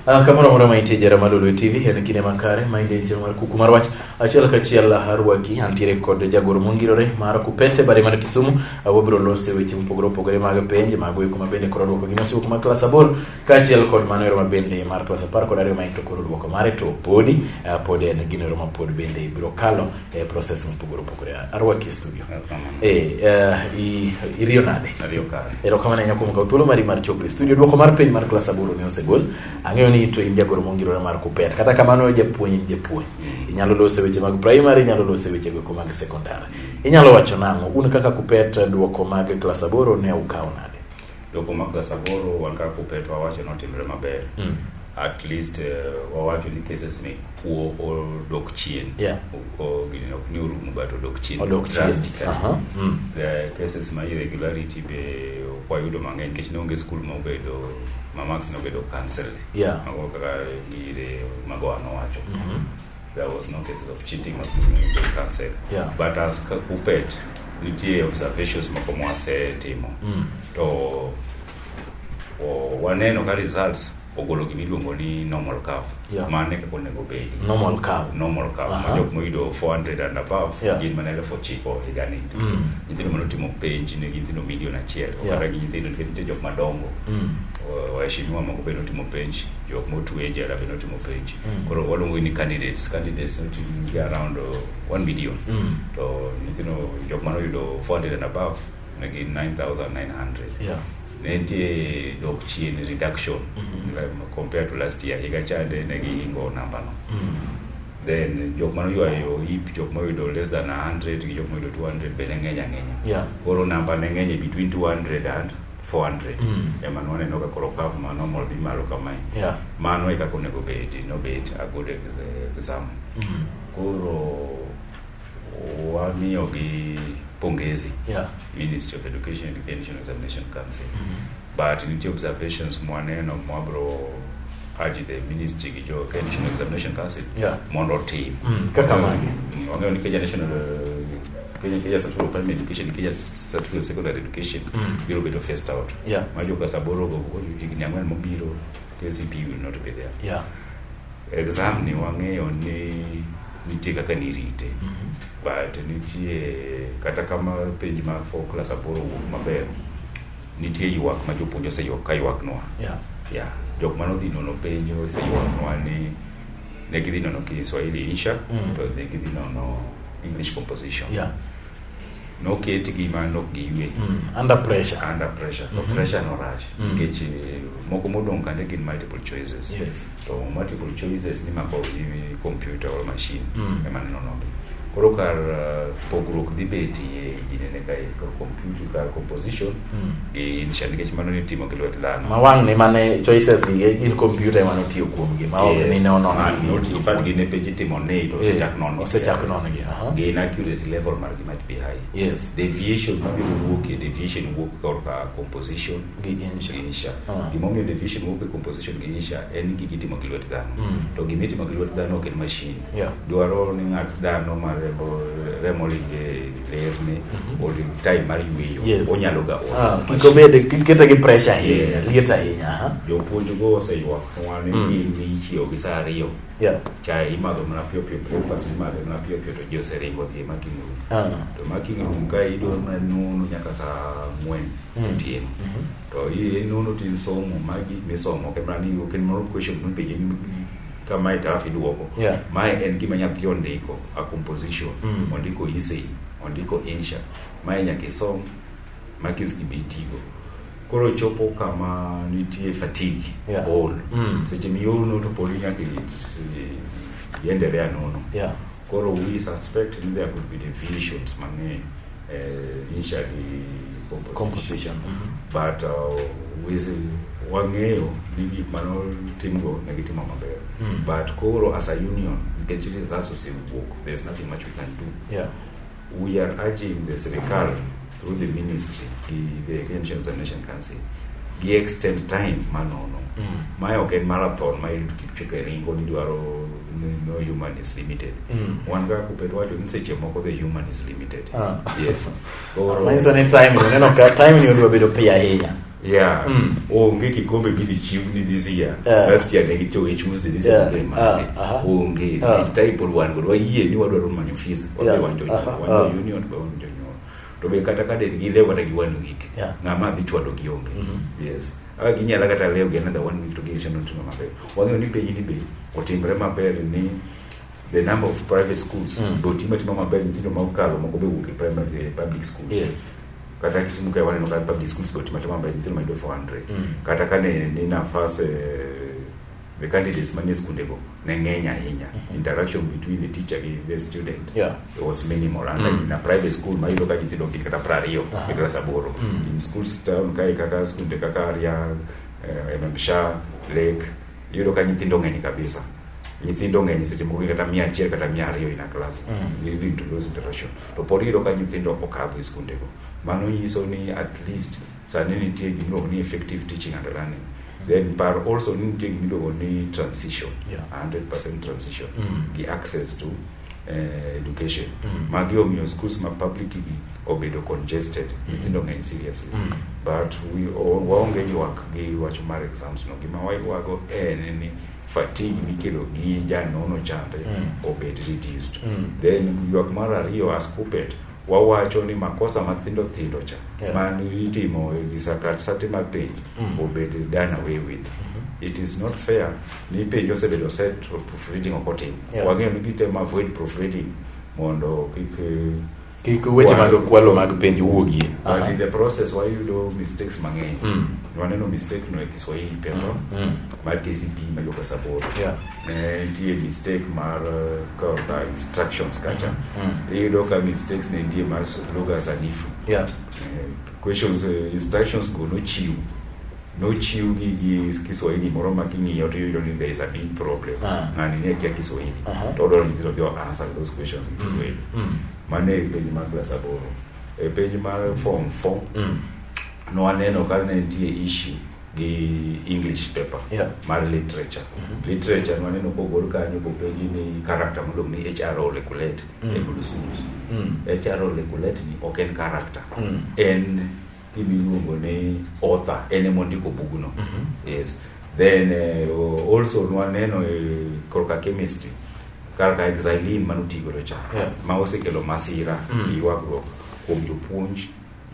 Ah, kama unaona maite jara malulu tv en kine makare mainde nche mar kuku mar wach achiel kachiel harwaki antiere kod jagoro mongirore mar kupete bare mar kisumu awabiro lose weche mopogore opogore mag penj mago eko mabende koro dwoko gi masiwo kuma klas aboro Kaachiel kod mano eroma bende mar klas apar kod ariyo ma ento koro duoko mare to podi uh, pod en gino eroma pod bende ibiro kalo e eh, process mopogore opogore arwaki e studio eh, eh, iriyo nade erokamano ahinya kuom kawo thuolo mari mar chopo e studio duoko mar piny mar klas aboro ne osegol ang'eyo ni to in jagoro mongirore mar kupet kata kamano japuonj in japuonj mm. inyalo lose weche mag primary inyalo lose weche goeko mag sekondar inyalo wacho nang'o un kaka kupet duoko mag klas aboro ne ukawo nade Doko mag Gasaboro wan kaka Kupeto wawacho ni otimre maber. Mm. At least uh, wawacho ni cases ni kuo odok chien. Yeah. O gini ok ni orumo but odok chien. Odok chien. Drastically. Uh -huh. mm. The cases ma irregularity be wayudo mang'eny nikech ne onge skul ma obedo ma max ne obedo cancel. Yeah. Mago kaka gire mago an owacho. Mm -hmm. There was no cases of cheating was cancelled. Yeah. But as Kupet, nitie observations moko mwasetimo mm. to waneno ka results ogolo gima iluongo ni normal curve yeah. mane kaka onego bedi normal curve normal curve uh -huh. majok moyudo 400 and above yeah. gin mana elfu ochiko higani mm. nyithindo mane otimo penj ne nyithindo milion achiel yeah. kata gi nyithindo nikech nitie jok madongo mm. waheshimiwa moko bende otimo penj jok motwe e jela be notimo penj mm. koro waluongo ni candidates candidates notimgi around uh, one million mm. to nyithindo jok mane oyudo 400 and above ne gin 9900 ne nitie dok chien reduction mm-hmm. compared to last year higa chande ne gihingo nambano mm. then jok mane oywayo hip jok moyudo less than 100 gi jok moyudo 200 be ne ng'eny ang'enya koro namba ne ng'eny e between 200 and 400 mm. ema nwaneno ka koro curve ma normal dhi malo kamae yeah. mano e kaka onego bed nobet a good exam mm. koro wamiyogi pongezi yeah. ministry of education and the national examination council mm -hmm. but nitie observations mwaneno mwabro urge the ministry gi jo Kenya National Examination Council yeah. mondo otim mm. kaka magi wang'eyo ni Kenya National uh, Kenya Kenya Central Primary Education, Kenya Central Secondary Education mm. biro bedo phased out. Yeah. Majo ka saboro go higni ang'wen mobiro KCP will not be there. Yeah. Exam ni wang'eyo ni nitie kaka nirite. Mm -hmm. But nitie kata kama penj ma for class aboro wuok maber nitie ywak ma jopuonj oseyuak ka ywaknwa. Yeah. Yeah. Jok manodhi nono penjo oseyuaknwa ni ne gidhi nono Kiswahili insha mm. to ne gidhi nono English composition yeah. noketgi ma nok giywe mm. under pressure under pressure mm -hmm. to mhm. pressure norach mm. nikech mm. moko modong' kande gin multiple choices yes. to multiple choices nimako gi computer or machine mm. ema nenonogi koro kar uh, pogruok dhi betie e jinene ka e kor computer kar composition gi insha nikech mano nitimo gi lwet dhano ma wang' ni mane choices gi gin computer ema notiyo kuomgi ma ok ni ne onono Ah, gi no, otiyo in fact, kuomgi. gine page itimo ni to Eh, osechak nono osechak nono gi, aha. gi inaccuracy level margi might be high Yes. deviation mabiro wuokie deviation wuok korka composition Gi insha. insha Ah. gimomiyo deviation wuok e composition gi insha en gigi itimo gi lwet dhano Mm. to gima itimo gi lwet dhano ok en machine Yeah. Dwaro ni ng'at dhano ma remo remo ringe lerni oling time mar yueyo. Yes. Onyalo ga ol. Ah, kik obed kik kete gi pressure ahinya Yes. liet ahinya aha. Jopuonj go oseywak nwa ni Mm. gin ni ichiew gi saa ariyo. yeah. Chai imadho mana piyo piyo breakfast imadho mana piyo piyo to ji oseringo dhi e making room. Ah. To making room ka idwaro mana nono nyaka saa ang'wen Mm. otieno. Mhm. To i nono tin somo ma gik misomo kemani ok en moro question mipenje ni ka mae to alafu iduoko Yeah. mae en gima nyathi ondiko a composition Mm. ondiko isei ondiko insha mae nyaka isom ma kids gibi itigo koro chopo kama nitie fatigue Yeah. ol Mm. seche miolo to poli nyaka i- i- iendelea nono Yeah. Koro we suspect ni there could be divisions mang'eny uh, initially composition, composition. Mm -hmm. but uh, we wang'eyo ni gik manotimgo ne gitimo maber mm. but koro as a union nikech results osewuok there's nothing much we can do yeah. We are urging the Sirikal through the ministry, the, the Kenyan Examination Council, gi extend time manono. Mm. Mae ok en marathon ma Eliud Kipchoge ringo ni dwaro ni no human is limited. Mm. Wan ga kupet wacho ni seche moko the human is limited. Ah. Yes. Koro- Manyiso ni time, uneno ka time ni odwa bedo piyo ahinya. Yeah. Mm. Onge kikombe midhi chiwni this year. Yeah. Last year ne gichowo e Tuesday this year Yeah. ne Monday. Ah, aha. Onge. Ah. Nikech type pod wan godo wayie ni wadwaro manyo fees. Wadhi Yeah. wanjo Aha. nyuol. Wanjo Ah. union be wanjo nyuol. To be kata ka den gilewo kata gi one week. Yeah. Ng'ama dhi chwado gi onge. Mhm. Yes. Aka ginyala kata lewo gi another one week to gi seno timo maber. Wang'eyo ni piny ni be otimre maber ni the number of private schools Mm. be otima tima maber nyithindo ma okalo moko be wuok e primary e public schools Yes. kata kisimuka waneno ka public schools go timatema mba nyithindo mayudo 400 mm. kata ka ne ni nafas eh, the candidates manie skunde go ne ng'eny ahinya mm -hmm. interaction between the teacher gi the student yeah. it was minimal and mm. like in a private school mayudo ka nyithindo gin kata pra ariyo uh -huh. e klas aboro mm. in schools town kae kaka skunde kaka aria eh, ememsha lake yudo ka nyithindo ng'eny kabisa nyithindo ng'eny seche moko kata mia achiel kata mia ariyo in a class mm. leading to those interactions to pod iyudo ka nyithindo okadho e skundego. Mano nyiso ni at least sani nitie gimiluongo ni effective teaching and learning then par also ni nitie gimiluongo ni transition yeah. 100 transition mm. gi access to uh, education mm. magi omiyo schools ma public gi obedo congested mm. nyithindo ng'eny seriously mm. but waonge ywak gi wach mar exams no gima waywago en ni fatigue mikelo gi janono chande mm. obed reduced mm. then ywak mar ariyo as puppet wawacho ni makosa mathindo thindo cha yeah. man itimo gi sakat sate mag penj mm. obed done away with mm -hmm. it is not fair ni penj osebedo set proofreading ok otim yeah. wang'eyo ni gitem avoid proofreading mondo kik kik weche mag kwalo mag penj wuogie but in the process wayudo mistakes mang'eny mm. waneno mistake no e kiswahili pepa mm. mm. mar kcp mayoka saboro yeah. ne nitie mistake mar uh, ka instructions kacha mm. mm. iyudo ka mistakes ne nitie mar lugha sanifu yeah. uh, questions uh, instructions go nochiw nochiwgi gi kiswahili moro ma king'iyo to iyudo ni there is a big problem ah. ng'ani ne kia kiswahili uh -huh. to odwaro nyithindo gi answer those questions in kiswahili mm. mm. mane e penj mar klas aboro e penj mar form four mm. nwaneno ka ne nitie issue gi english paper yeah. mar literature mm -hmm. literature nwaneno kogol kanyo kopenji ni character modong ni hro lekulate mm. e blusumus mm. hro lekulate ni ok en character mm. en gimiluongo ni author en emondiko bugno mm -hmm. yes then uh, also nwaneno uh, eh, korka chemistry kar ka exilin mane otigodo cha yeah. ma osekelo masira mm. gi ywagruok kuom jopuonj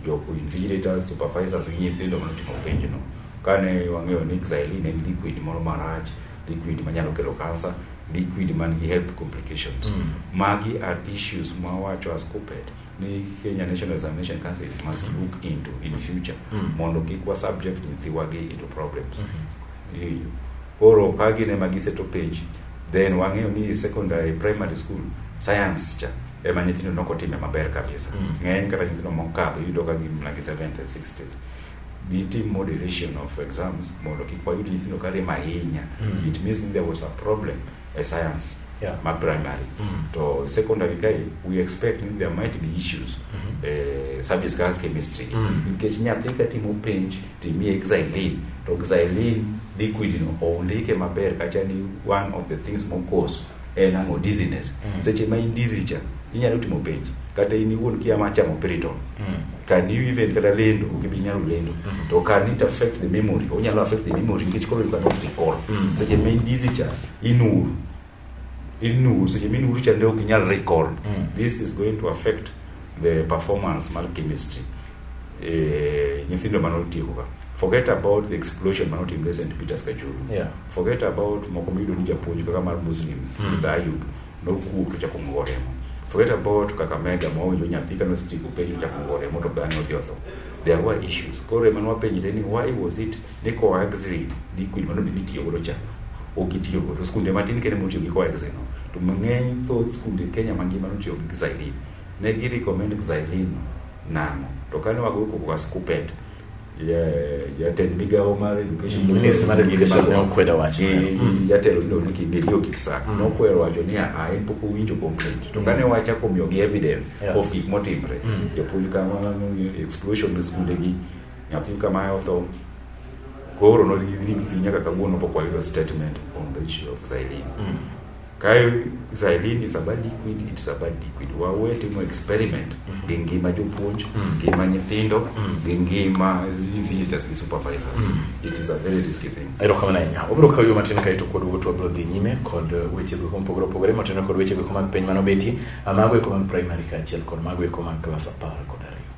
joinvigilators supervisors gi nyithindo mane otimo penjno kane wang'eyo ni exilin en liquid moro marach liquid manyalo kelo kansa liquid man gi health complications mm. magi are issues ma wacho as coped ni Kenya National Examination Council must mm-hmm. look into in future mm. mondo kik wa subject nyithiwagi into problems mm -hmm. hiyo koro ka gin ema giseto page then wang'eyo ni secondary primary school science cha ema nyithindo nok otime maber kabisa mm. ng'eny kata nyithindo mokadho iyudo ka gin mana gi 70 60s gitim moderation of exams mondo kik wayud nyithindo ka rem ahinya mm. it means there was a problem mm. e science yeah. ma primary mm -hmm. to secondary kae we expect ni there might be issues mm -hmm. eh, subjects kaka chemistry mm -hmm. nikech nyathi ka timo penj to imiye exilin to exilin liquid no oundike maber kacha ni one of the things mokos en ang'o dizziness mm -hmm. seche ma in dizzy cha inyalo timo penj kata in iwuon kia ma chamo pirito mm. can you even kata lendo ok ibi nyalo lendo mm. to can it affect the memory onyalo affect the memory nikech koro you cannot recall mm. seche ma in busy cha inur inur seche ma inur cha ne ok inyal recall mm. this is going to affect the performance mar chemistry eh, nyithindo mane otieko ka forget about the explosion mane otimre st peters kachuru yeah. forget about moko miyudo ni japuonj kaka mar muslim mm. mr ayub Nokuok to chako ng'owo remo. Forget about Kakamega ma owinjo nyathi kane osetieko penjo chako ng'owo remo to bang'e odhi otho. There were issues. Koro ema nwapenjre ni why was it ni coaxin liquid mano bende itiyo godo cha ok itiyo godo. Skunde matin kende motiyo gi coaxin no. To mang'eny thoth skunde Kenya mangima notiyo gi Xylene. Ne gi recommend Xylene nang'o? To kane wagoyo koko gas kupet jatend migawo mar education mm. minister mar education ne okwedo wacho mm. jatelo no ni kibiri okisa mm. nokwedo wacho ni a en pok owinjo complaint to kane wacha komiyo gi evidence of gik motimre jopuonj kama explosion e skunde gi nyathi kama otho koro no nyaka kawuono pok wayudo statement on the issue of Zailin Kae xylene is a bad liquid, it's a bad liquid. Wawe timo experiment mm. gi ngima jopuonj, mm. ngima nyithindo, mm. gi ngima visitors gi supervisors. Mm. It is a very risky thing. Ero kama nanya. Obro kawo yo matin kaito kod wuotwa bro dhi nyime kod uh, weche go kompogore opogore matendo kod weche go mag piny mano beti. Amago e komang primary kaachiel kod mago e komang klas apar kod ariyo.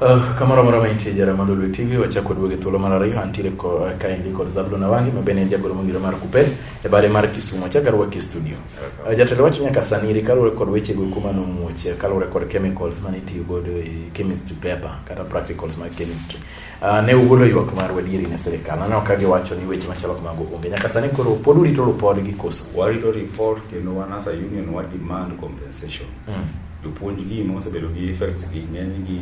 Uh, kamoro moro maintie jara ma Lolwe TV wachako duoge thuolo mar ariyo antiere ko eh, kaendi kod Zablon Awangi ma bende en jagoro mongire mar Kupet e bare mar Kisumu achaka rwaki studio uh, jatelo wacho nyaka sani ri kaluwore kod weche go kuma nomuoche kaluwore kod chemicals mane itiyo godo e chemistry paper kata practicals mag chemistry Uh, ne ugolo ywak mar wadieri ne sirikal aneno ka giwacho ni weche machalo kamago onge nyaka sani koro pod urito ripod gi koso warito report kendo wan as a union wa demand compensation mm. jopuonj gi ma osebedo gi effects gi ng'eny gi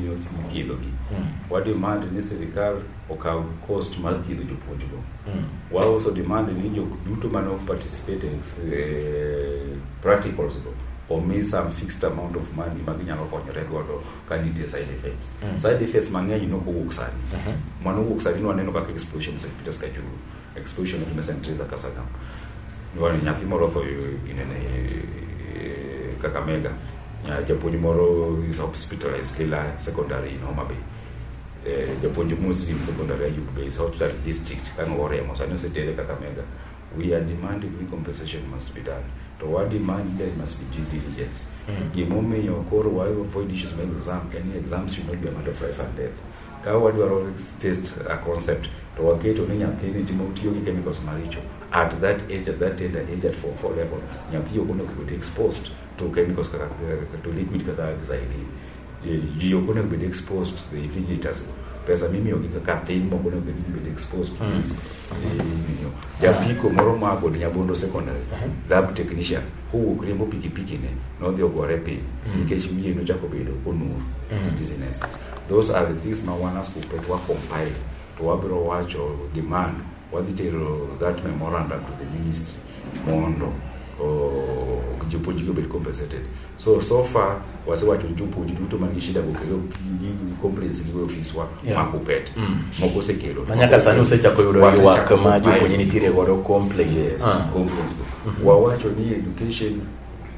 thiedho gi mm. wa demand ni sirikal okaw cost mar thiedho jopuonj go mm. wa also demand ni jok duto mane ok participate in eh, practicals go omi some fixed amount of money ma ginyalo konyore godo ka nitie side effects mm. side effects mang'eny nok owuok sani uh mhm. -huh. mano owuok sani nwaneno kaka explosion St Peter's Kajuru explosion of St Teresa Kasagam nwan nyathi moro otho ginene eh, Kakamega japuonj moro is hospitalized Lila secondary in Homa Bay eh, japuonj Muslim secondary Ayub Bay is hospital district kano oremo sani osetere Kakamega we are demanding ni compensation must be done to wa demand there must be due diligence mm. gimomiyo koro wa avoid issues ma exam any exam should not be a matter of life and death ka wadwaro test a concept to waketo ni nyathini timo tiyo gi chemicals maricho at that age at that tender age at form 4 level nyathi okonego bed exposed to chemicals kaka to liquid kaka xylene Eh, ji ok onego bed exposed to the invigilators pesa mimiyogi kaka thin moko onego bed gibed exposed to hmm. this imiyo eh, japiko moro ma kod nyabondo secondary hmm. lab technician kowuok riembo pikipiki ne nodhi ogore piny hmm. nikech wiye nochako bedo onur dizziness those are the things ma wan as kupet wa compile to wabiro wacho demand Wadhi tero that memorandum to the ministry mondo jopuonjgi obed compensated. So so far wasewacho ni jopuonj duto man gi shida gokelo complaints gi ofis wa yeah. ma kupet mm. moko osekelo ma nyaka sani usechako yudo ywak ma jopuonj nitiere godo complaints yes, ah. complaints mm -hmm. wawacho ni education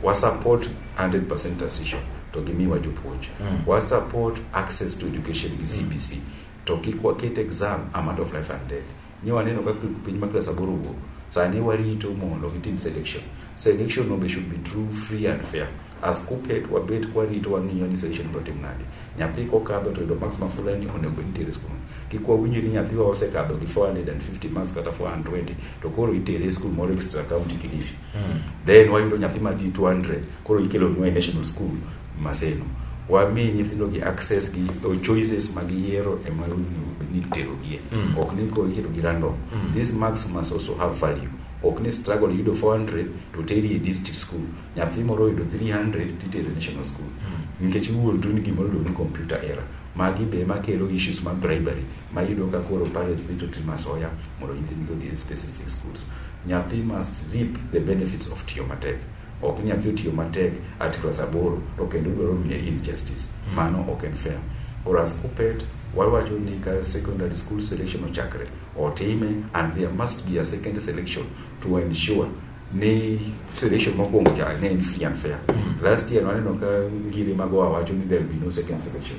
wa support 100% transition to gimiwa jopuonj mm. wa support access to education gi CBC mm. To kik waket exam a matter of life and death. Ni waneno kaka piny ma klas aboro wuok. Sani warito mondo gitim selection. Selection no be should be true, free and fair. As KUPPET wabet kwarito wang'iyo ni selection biro tim nade. Nyathi kokadho to yudo marks ma fulani onego bed nitere skul. Kik wawinjo ni nyathiwa osekadho gi 450 marks kata 420 to koro itere skul moro extra county Kilifi. Then wayudo nyathi ma gi 200 koro ikelonwa e national school maseno wami nyithindo gi access gi or choices ma giyiero e ma ni terogie mm. ok ni ko iketo gi random mm. these marks must also have value ok ni struggle yudo 400 to teri e district school nyathi moro yudo 300 titero national school mm. nikech wuon tu ni gimoro ni computer error magi be makelo issues mag bribery mayudo ka koro parents need to treat masoya mondo nyithindgi odhi e specific schools nyathi must reap the benefits of tiyo matek ok nyathi otiyo matek at class aboro to kendo udwaro miye injustice hmm. mano ok en fair koro as kupet wawacho ni ka secondary school selection ochakre otime and there must be a second selection to ensure ni selection mokwongo cha ne en free and fair hmm. last year waneno ka ngiri mago wawacho ni there will be no second selection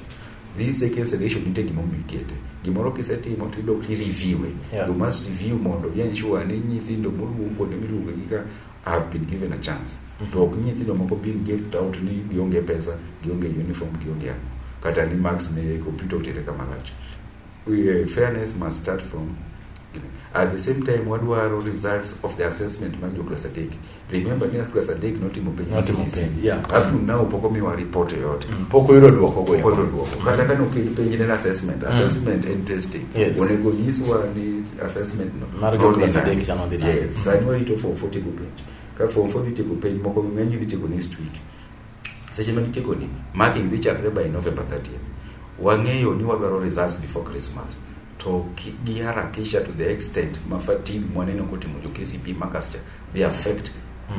this second selection nitie gima omikete gimoro kisetimo to idok ireviewe yeah. you must review mondo ensure ni nyithindo moluong kuonde miluongo gi ka have been given a chance mm-hmm. to ok nyithindo moko being gift out ni gionge pesa gionge uniform gionge ang'o kata ni marks ne e computer otere kama lach Eh, fairness must start from at the same time wadwaro results of the assessment mag jo class adek remember ni class adek notimo penj Notimo CBC. penj, yeah. up to now pok omiwa report yoyote pok oyudo duoko go Okoto duoko. kata kane okel penj ne en assessment assessment en testing Yes. onego nyiswa ni assessment no Mar jo klas adek cha nodhi nade? Yes, sani warito form 4 tieko penj. Ka form 4 dhi tieko penj moko ng'eny dhi tieko next week. Seche ma gitieko ni, marking dhi chakre by November 30th. Wang'eyo ni wadwaro results before Christmas. To ki- giharakisha to the extent ma fatigue mwaneno kotimo jo KCP markers cha, they affect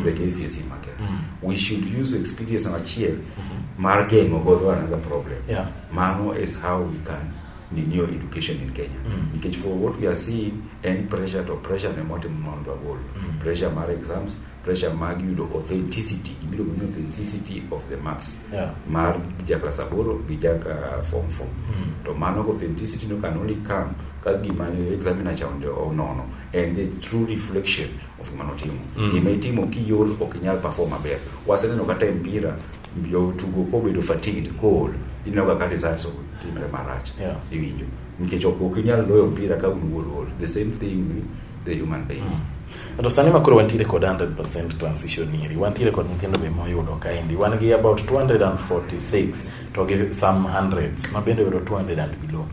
the KCSE markers. We should use experience achiel mar geng'o godo another problem. Yeah. Mano is how we can ni new education in Kenya mm. nikech for what we are seeing en pressure to pressure ne motim mondo wagol mm. pressure mar exams pressure mag yudo authenticity gimiluongo ni authenticity of the marks yeah. mar jaklas aboro gi jaka form four mm. to mano authenticity no can only come ka gima examiner cha onono and the true reflection of gima notimo mm. gima itimo kiol ok inyal perform maber waseneno kata e mpira Jotugo obedo fatigued, kool, ineno kaka results timre marach. Yeah. Iwinjo. Nikech ok ok inyal loyo mpira ka un wuol wuol. The same thing with the human beings. Mm. To sani ma koro wantiere kod 100% transition iri, wantiere kod nyithindo be moyudo kaendi. Wan gi about 246 to gi some hundreds ma bende oyudo 200 and below.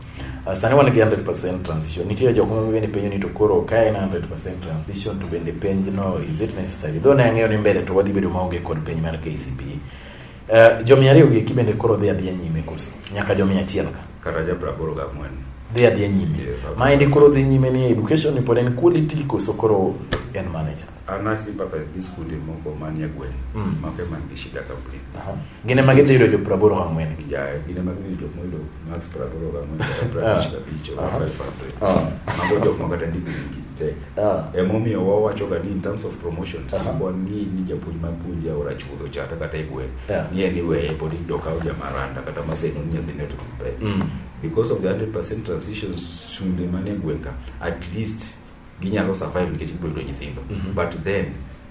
Uh, sani wan gi 100% transition nitie jok ma bende penjo ni to koro ka en 100% transition to bende penj no is it necessary though ne ang'eyo ni mbele to wadhi bedo maonge kod penj mar KCP uh, eh, jo mia ariyo gi eki bende koro dhi adhiya nyime koso nyaka jo mia achiel ka kata ja praboro ga mwen dhi adhiya nyime yes, maendi koro dhi nyime ni education pod en quality koso koro en manager An I think papa is this kuonde moko manie gweng' Mm. mago ema nigi shida complete. Aha. Gine ma gidhi yudo jo praboro hamwen gi. Ya, gine mag ni jok moyudo max praboro ga moyudo Ah. prabich kabich or Aha. 500. Ah. Mago jok ma kata ndiko gi tek. Ah. Emomiyo wawacho ga ni in terms of promotions, Aha. kibwa ng'i ni japuonj ma puonja ora chuodho chata kata e gweng'. Yeah. Ni en iweye pod idok kawo jamaranda kata maseno ni nyathine to pek. Mm. Because of the 100% transitions shunde manie gweng' ka, at least ginyalo survive nikech gibiro yudo nyithindo mm -hmm. but then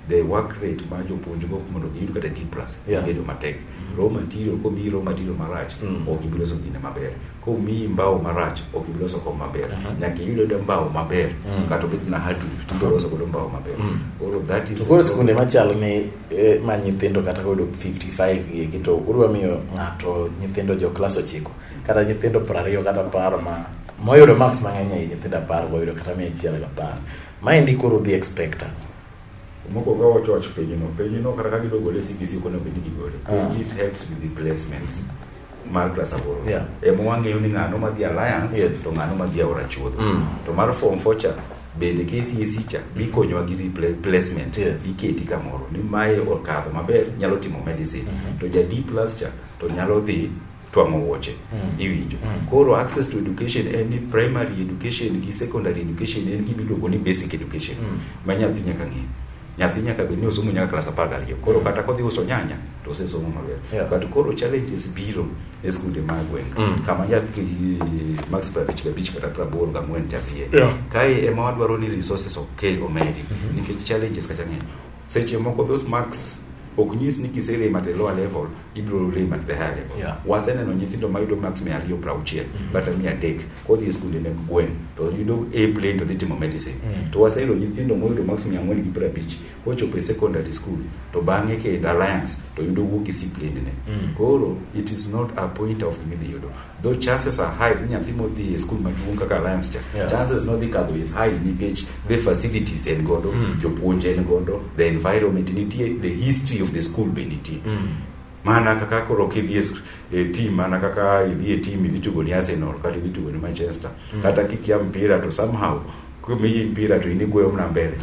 the work rate ma jopuonjgo mondo giyud kata D plus yeah. bedo matek mm. raw material komiyi raw material marach mm. ok ibi loso gine maber komiyi mbao marach ok ibi loso kom maber uh -huh. nyaka iyud yudo mbao maber mm. kata obed na hardwood uh -huh. tibiro loso godo mbao maber mm. koro that is koro sikunde machal ni eh, ma nyithindo kata koyudo 55 gigi to udwa miyo ng'ato nyithindo jo klas ochiko kata nyithindo prariyo kata apar ma Moyudo marks mang'eny ahinya nyithindo apar wayudo kata mia achiel gi apar. Maendi koro dhi expecta. Moko ka wacho wach penjno, penjno kata ka gidwa gole e CBC ok onego bed ni gigole. Ah. It helps with the placements mar klas aboro. Yeah. Ema wang'eyo ni ng'ano ma dhi alliance Yes. to ng'ano ma dhi aora chuodho. Mm. To mar form four cha bende KCSE cha bikonyowa gi repla- placement Yes. iketi kamoro ni mae okadho maber nyalo timo medicine to ja D plus cha to nyalo dhi twang'o wuoche mm. iwinjo mm. koro access to education en ni primary education gi secondary education en gima iluongo ni basic education mm. ma nyathi nyaka ng'e nyathi nyaka bed ni osomo nyaka klas apar gariyo koro mm. kata kodhi uso nyanya to osesomo maber yeah. but koro challenges biro e skunde ma gweng mm. kama nyathi max prabich gabich kata prabor gang'wen nyathie yeah. kae ema wadwaro ni resources okel omedi mm -hmm. nikech challenges kata ng'eny seche moko those marks ok nyis ni kiserem at a lower level ibiro rem at the higher level yeah. waseneno nyithindo mayudo max mia ariyo pra auchiel mm -hmm. kata mia adek kodhi e skunde meg gweng to yudo a plane to dhi timo medicine mm -hmm. to waseyudo nyithindo moyudo max mia ang'wen gi pra abich kochopo e secondary school to bang'e kendo alliance to yudo wuok gi siplendene mm -hmm. koro it is not a point of gimidhi yudo Though chances are high ni nyathi modhi e skul maduong' kaka Alliance cha Yeah. chances nodhi kadho is high nikech the facilities en godo Mm. jopuonj en godo the environment nitie the history of the school be nitie Mm. mana kaka koro kidhi e sk- e team mana kaka idhi e team idhi tugo ni Arsenal kata idhi tugo ni Manchester kata kikia mpira to somehow kumiji mpira to in igweyo mna mbele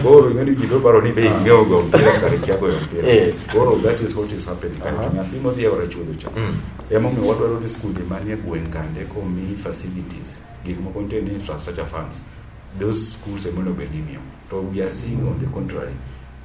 koro ing'eni ji doparo ni be ing'eyo go mpira kare kia goyo mpira Eh. koro that is what is happening kare Aha. to nyathi modhi e ora chuodho cha Mm. emomiyo wadwaro ni skunde manie gweng' kande komi facilities gik moko nitie ni infrastructure funds those schools emonego bed ni imiyo to we are seeing on the contrary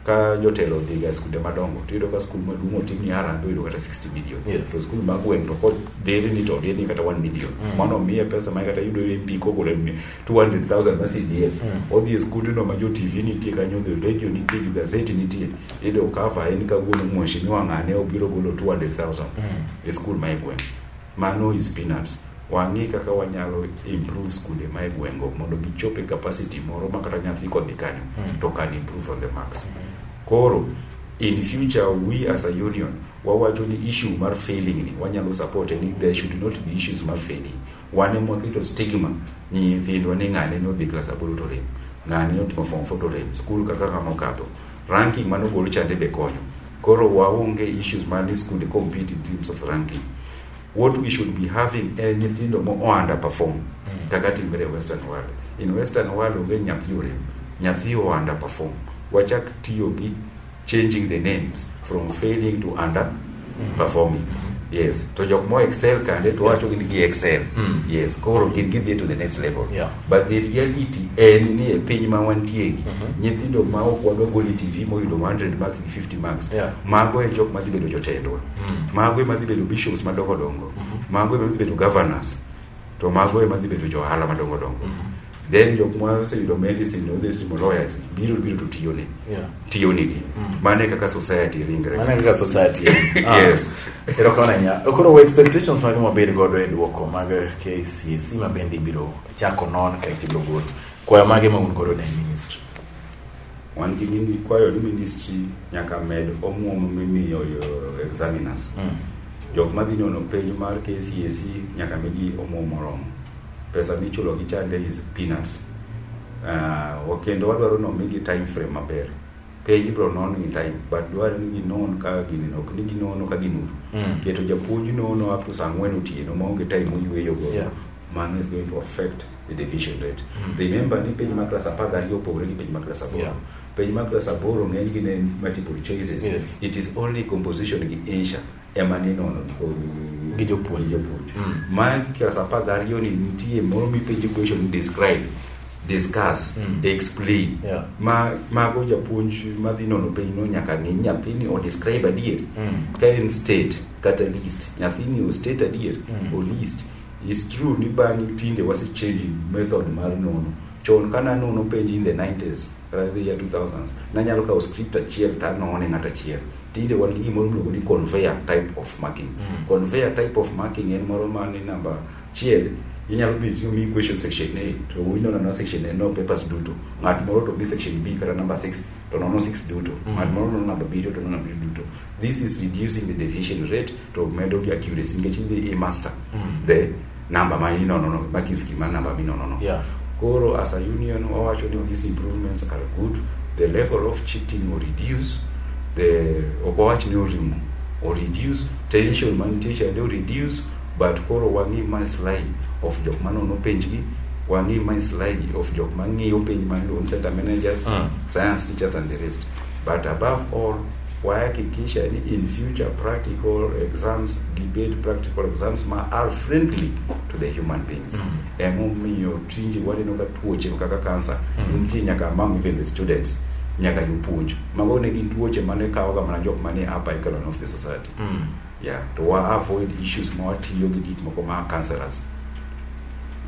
ka jotelo odhi ga skunde madongo to iyudo ka skul maduong' otim ni harambee oyudo kata 60 million Yes. to skul ma gweng' to kodhiri ni to odhiri ni kata 1 million mano miye pesa ma kata yudo MP kogole ni 200,000 ma CDF odhi e skundno ma jo TV nitie kanyo odhi radio nitie gi gazeti nitie iyudo cover en kawuono mheshimiwa ng'ane obiro golo 200,000 e skul ma e gweng' Mano is peanuts. Wang'i kaka wanyalo improve skunde ma e gwengo mondo gichop e capacity moro ma kata nyathi kodhi kanyo mm. to can improve on the marks. Mm. Koro in future we as a union wawacho ni issue mar failing ni wanyalo support ni there should not be issues mar failing wane mwaketo stigma ni nyithindwa ni ng'ane ni odhi klas aboro to rem ng'ane ni otimo form four to rem skul kaka kama okadho Ranking mane ogol chande be konyo. Koro waonge issues mar ni skunde compete in terms of ranking. What we should be having en nyithindo mo underperform mm. kaka timre e western world. In western world onge nyathi orem, nyathi o underperform. Wachak tiyo gi changing the names from failing to under performing yes to jok mo excel kande to wacho gin gi excel Mm. yes koro gin gidhi to the next level Yeah. but the reality en ni e piny ma wantie gi Mhm. nyithindo ma ok wadwa goli tv moyudo 100 marks gi 50 marks Yeah. mago e jok madhi bedo jotendwa Mm. mago ema dhi bedo bishops madongo dongo mago ema dhi bedo governors to mago ema dhi bedo johala madongo dongo then jok ma oseyudo medicine odhi timo lawyers biro biro to tiyone yeah. tiyonigi mm. mane kaka society ringre mane kaka society ah. yes ero kona nya koro expectations mage mabed godo e duoko mag KCSE ma bende ibiro chako non ka ibiro gol kwayo mage ma un godo ne ministry wan gi nini kwayo ni ministry nyaka med omuom mimiyo examiners mm. jok madhi nono page mar KCSE nyaka migi omuom moromo Pesa michulo gi chande is peanuts. Uh, kendo wadwaro ni omigi time frame maber. Penj ibro non gi time, but dwaro ni ginon ka gini ok ni ginono ka ginur. Mm. Keto japuonj nono up to saa ang'wen otieno maonge time oyueyo go. Yeah. Mano is going to affect the division rate. Mm. Remember ni penj ma klas apar gariyo opogore gi penj ma klas aboro. Yeah. Penj ma klas aboro ng'enygi ne en multiple choices. Yes. It is only composition gi insha. ema ninono gi jopuonj jopuonj mm. ma klas apar gi ariyo ni nitie moro mipenjo question ni describe discuss mm. explain yeah. ma mago japuonj madhi nono penj no nyaka ng'e nyathini o describe adier mm. ka en state kata list nyathini o state adier mm. o list is true ni bang'e tinde wase changing method mar nono chon kana nono penj in the 90s Radhi ya 2000s. Nanyalo kawo script achiel to anone ng'at achiel. Tinde wan gi gimoro miluongo ni conveyor type of marking. Mm. Conveyor type of marking en moro ma ni namba chiel inyalo bi to mi question section A to winona na section A no papers duto. Ng'at moro to mi section B kata number 6 to nono 6 duto. Mm. Ng'at moro nono number B to nono number duto. This is reducing the deviation rate to medo gi accuracy nikech idhi i master mm. the number ma inono no ma kis kima number ma inono no yeah. koro as a union wawacho ni these improvements are good the level of cheating or reduce the obowach ni orimo or reduce tension man teacher ni reduce but koro wangi ma slay of jok ma nono penj gi wangi ma slay of jok ma ngiyo penj ma loan center managers mm. science teachers and the rest but above all wahakikisha ni in future practical exams gibed practical exams ma are friendly to the human beings mm. emomiyo tinde waneno ka tuoche kaka kansa mm. nitie nyaka among even the students nyaka jopuonj mago ne gin tuoche mane kawoga mana jok mane upper echelon of the society mm. Yeah, to avoid issues ma watiyo gi gik moko ma cancerous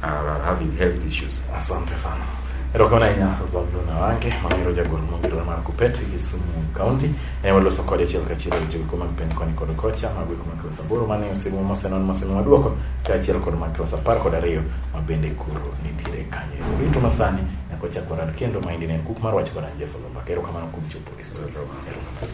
are uh, having health issues. Asante sana. Erokamano ahinya Zabulon Awange mang'ero jagoro mongirore mar Kupet gi Kisumu County ne waloso kode achiel kachiel e weche go mag penj koni kod kocha mag week mag klas aboro mane osego mosenon mosemiwa dwoko kaachiel kod mag klas apar kod ariyo ma bende koro nitiere kanyo. Rito masani nyaka wachak warad kendo ma indi ne en kuk mar wach kod Anjefo Lombaka. Erokamano kuom chopo e studio. Erokamano.